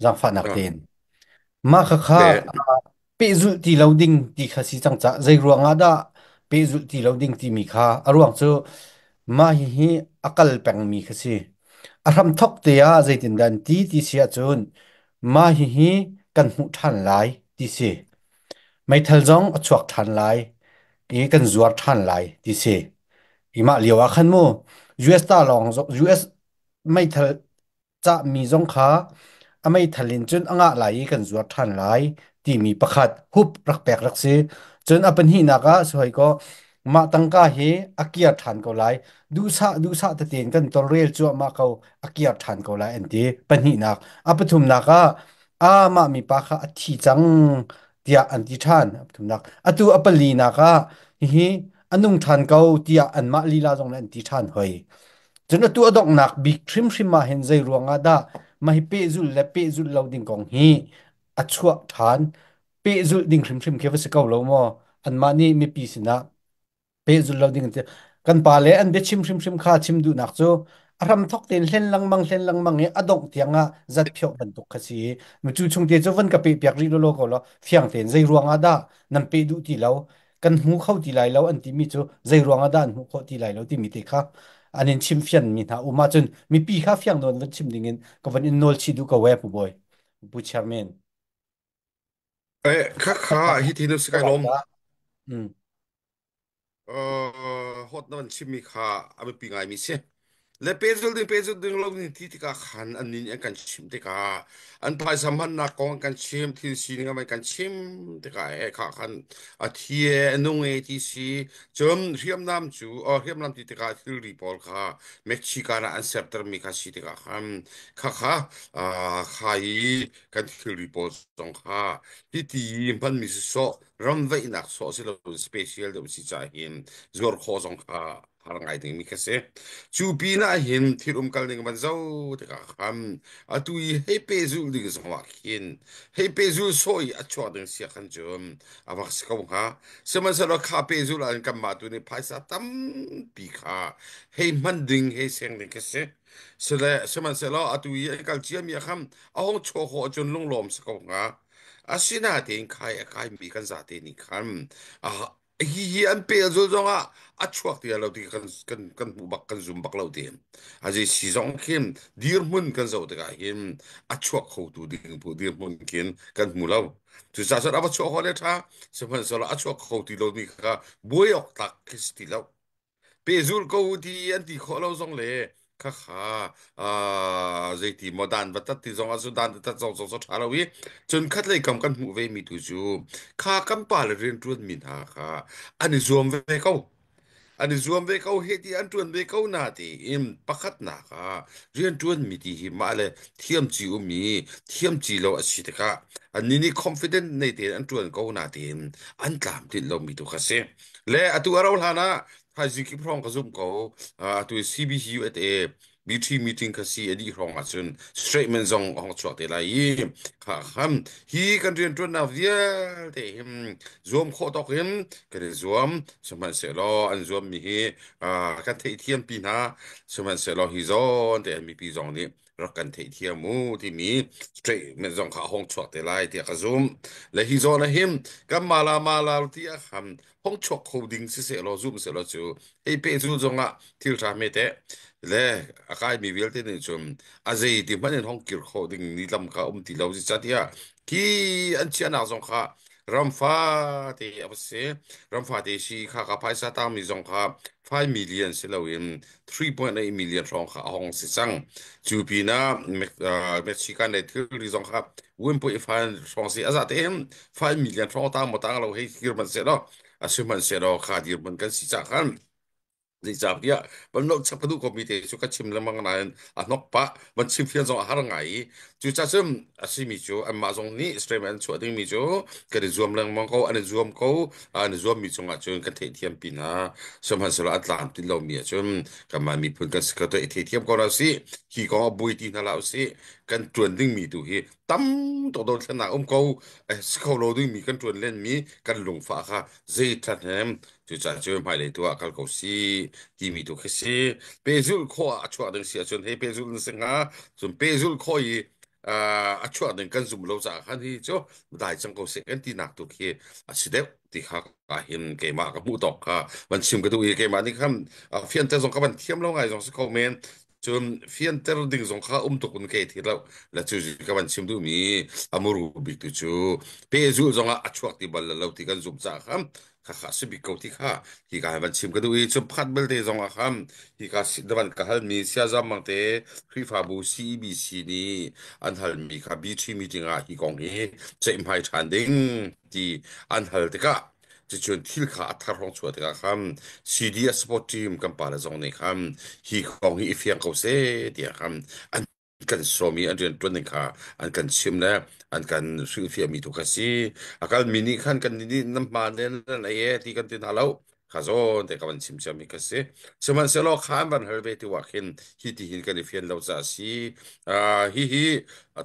Zaangfahnak tein. Mah khakha Okay. ah pehzulh ti lo ding ti kha si cang cah. Zei ruangah dah pehzulh ti lo ding timi kha a ruang cu mah hihi a kal pengmi kha si. A hramthok te ah zeitindah an ti ti si ahcun mah hihi kan hmuh ṭhan lai ti si. Meithal zong a chuak ṭhan lai i kan zuar ṭhan lai ti si. Hi mah lio ah khan mu US ta lawng US meithal cahmi zong kha a meithal in cun a ngah lai i kan zuar ṭhan lai timi pakhat hup rak pek rak si. Cun a pahnihnak ah si hoi kaw mah tangka hi a kir ṭhan ko lai. Duhsah duhsah tetein kan tawlrel cuahmah ko a kir ṭhan ko lai an ti. Pahnihnak. A pathumnak ah amah mipa kha a thi cang tiah an ti ṭhan. A pathumnak. Atu a palinak ah hihi an nung ṭhan ko tiah anmah lila zong nih an ti ṭhan hoi. Cun atu a donghnak bik hrimhrim ah hin zei ruangah dah mah hi pehzulh le pehzulh lo ding kong hi a chuah ṭhan? Pehzulh ding hrimhrim khi va si ko lo maw? Anmah nih mipi sinah pehzulh lo ding an ti. Kan pa le an biachim hrimhrim kha chim duhnak cu a hramthok tein hlen lengmang hlen lengmang i a dongh tiang ah zat phioh bantuk kha si i mi cu chung te cu van ka pehpiak rih lawlaw ko law fiang tein zei ruangah dah nan peh duh ti lo kan hmu kho ti lai lo an timi cu zeiruang ah dah an hmuh khawh ti lai lo timi te kha an in chim fian mi hna um ahcun mipi kha fiang nawn van chim ding in ka van in nawl chi duh ko we pu bawi pu chairman Eh, khakha hi ti nu si kai lom. Mm. Uh, hot na van chimmi kha a biapi ngai mi si. Le pehzul ding pehzul ding lo ni ti tikah khan an ni an kan chim tikah an phaisa mannak kong an kan chim thil sining an kan chim tikah e kha khan a thi e a nung e ti si cun hriamnam cu or hriamnam ti tikah thilri pawl kha Mexican ah an sertermi kha si tikah khan kha kha ah, kha i kan thilri pawl zong kha hiti hmanmi si sawh ramveihnak sawh si lo special deuh si cahin zuar khawh zong kha har ngai dingmi ka si. Cu pinah hin thil umkal ning van zo tikah khan atu i hei pehzul ding zongah khin hei pehzul sawh i a chuah ding sia khan cu a rak si ko hnga. Sihmanhsehlaw kha pehzul ah hin kanmah tu nih phaisa tampi kha hei hman ding hei seng ding ka si. Sile sihmanhsehlaw atu i an kal ciami ah khan a hong chuah khawh cun lunglawm si ko hnga. Asinatein kai a kaimi kan zate nih khan a Hihi an peh a zul zongah a chuak ti lo ti kan kan kan hmuh bak kan zum bak lo ti. A zi si zong khin dirhmun kan zoh tikah hin a chuak khotu ding pu dirhmun kin kan hmu lo. Cucaah cun a va chuak hole tha sihmanhsehlaw a chuak kho ti lomi kha buai awk tlak khi si ti lo. pehzulh ko u ti an ti khawh lo zong le khakha ah, zeiti maw dan batat ti zong ah cu dan tatat zong zong so tha lo i cun khatlei kam kan hmuh ve mi tu cu kha kan pa le rian tuan mi hna kha an i zuam ve ko an i zuam ve ko he ti an tuan ve ko na ti in pakhat na ka rian tuan mi ti hi ma le thiam ci u mi thiam ci lo a si te ka an ni ni confident nei te an tuan ko na ti in an tlam tin lo mi tu kha si Le atu a rauh hlan ah thaizing kip hrawng ka zumh ko. Uh, atu CBUSA B3 meeting ka si a dih hrawng ah cun statement zong a hong chuah te lai i kha ham hi kan riantuannak vialte hin zuam khawh tawk in kan i zuam sihmanhsehlaw an zuam mi hi uh, kan theihthiam pi hna sihmanhsehlaw hi zawn te an mipi zong nih rak kan theihthiam u timi statement zong kha hong chuak te lai tiah ka zum le hi zawn ah hin kan mala mala ti a ham hong chuak kho ding si se lo zum se lo cu ei pe zu zong ah thil tha me te le a kai mi vialte nih cun a zei ti hmanh in hong kir kho ding ni lam ka um ti lo si cha tia ki an chiahnak zong kha Ram fate a va si. Ram fate si kha ka phaisa tangmi zong kha 5 million si loin 3.8 million hrawng kha a hong si cang. Cu pinah Me- ah, Mexican le thilri zong kha 1.5 hrawng si a za tein 5 million hrawng tang maw tang lo hei kir hmanh sehlaw a si hmanh sehlaw kha dir hmanh kan si cah khan Zeicahtiah van no chap ka duh komi te cu ka chim lengmang nain a hnok pah van chim fian zong a har ngai i cucacun a simi cu anmah zong nih statement an chuah dingmi cu kan i zuam lengmang ko an i zuam ko an i zuammi cungah cun kan theihthiam pi hna sihmanhsehlaw a tlam tlin lomi ahcun kanmah miphun kan si ka i theihthiam ko hna usih hi kong a buai ti hna hlah usih kan tuan dingmi tu hi tam tawdon thlennak um ko eh, si kho lo dingmi kan tuan lenmi kan lungfa kha zei that hem cu ca cu hmai lei tu ah kal ko si timi tu khi si pehzul kho a chuah ding si ahcun hei pehzul na singa cun pehzul kho i uh, a chuah ding kan zum lo caah khan hi cu dai chang ko si kan ti nak tu khi a si deuh ti kha ka hin keimah ka hmuh tawk kha van chim ka tu i keimah nih khan uh, fian te zong ka van thiam lo ngai zong si ko men Cun fianter ding zong kha um tuk in ka thi lo. La cu ji ka van chim duh mi amuru bik tu cu pehzul zong ah a chuak ti bal lo ti kan zumh caah kha kha kha si bik ko ti kha hi ka van chim ka duh i cu phat belte zong ah kha hi ka si- davan ka hal mi siazam mang te Khrihfabu CEBC nih an hal mi kha BT meeting ah hi kong hi ceihmai ṭhan ding ti an hal tikah Cucun thil kha a thar hrawng chuah tikah khan CD a support team kan pale zong nih khan hi kong hi i fiang ko seh tiah khan an kan sawm i an rian ṭuan ding kha an kan chimh le an kan hringfiahmi tu kha si. A kalmi nih khan kan nih nan hma le nan ei e ti kan ti hna lo. Kha zawn te ka van chim ciami kha si. Sihmanhsehlaw kha an van hal ve ti ah khin hi ti hin kan i fian lo caah si. Uh, hi hi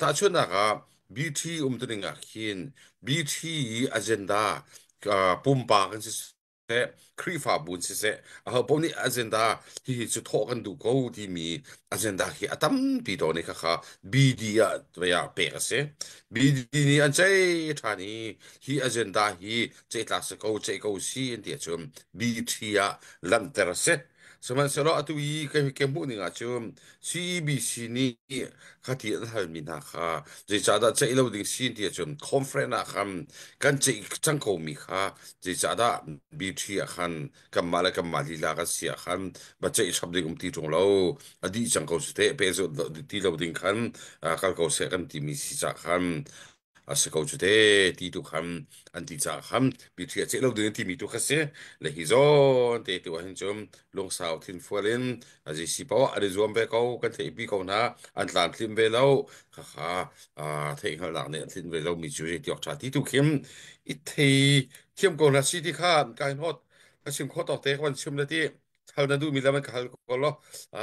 tahchunhnak ah BT um te ding ah khin BT i agenda uh, pumpak in siseh Khrihfabu in siseh ho paoh nih agenda hihi cu thawh kan duh ko timi agenda hi a tampi to ni khakha BD ah vaya pek a si BD nih an chei ṭhan i hi agenda hi chei tlak si ko chei ko si an ti ahcun BT ah langhter a si Sihmanhsehlaw atu i kan kan hmuh ning ahcun CEBC nih khati an halmi hna kha zeicahdah ceih lo ding si ti ahcun conference ah khan kan ceih cang komi kha zeicahdah BT ah khan kanmah le kanmah lila kan si ah khan va ceih chap ding um ti ṭung lo a dih cang ko si teh peh ti lo ding khan kal ko seh kan timi si cah khan a si ko cu te ti tu kham an ti caah kham pi thi a ceh lo ding an ti mi tu kha si le hi zawn te tu ah hin cun lungsau thin fual in a ji si pa an i zuam ve ko kan thei pi ko hna an tlan thlim ve lo kha kha a thei hngal nak nih an thin ve lo mi cu hi tiok tha ti tu khim i thei thiam ko hna si ti kha an kai hnot ka chim kho to te kan chim le ti khal na du mi lam an khal ko lo a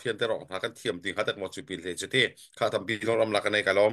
fian te rong hna kan thiam ding ha tak mo chu pil le chu ti kha tam pi lon ram la kan nei ka lom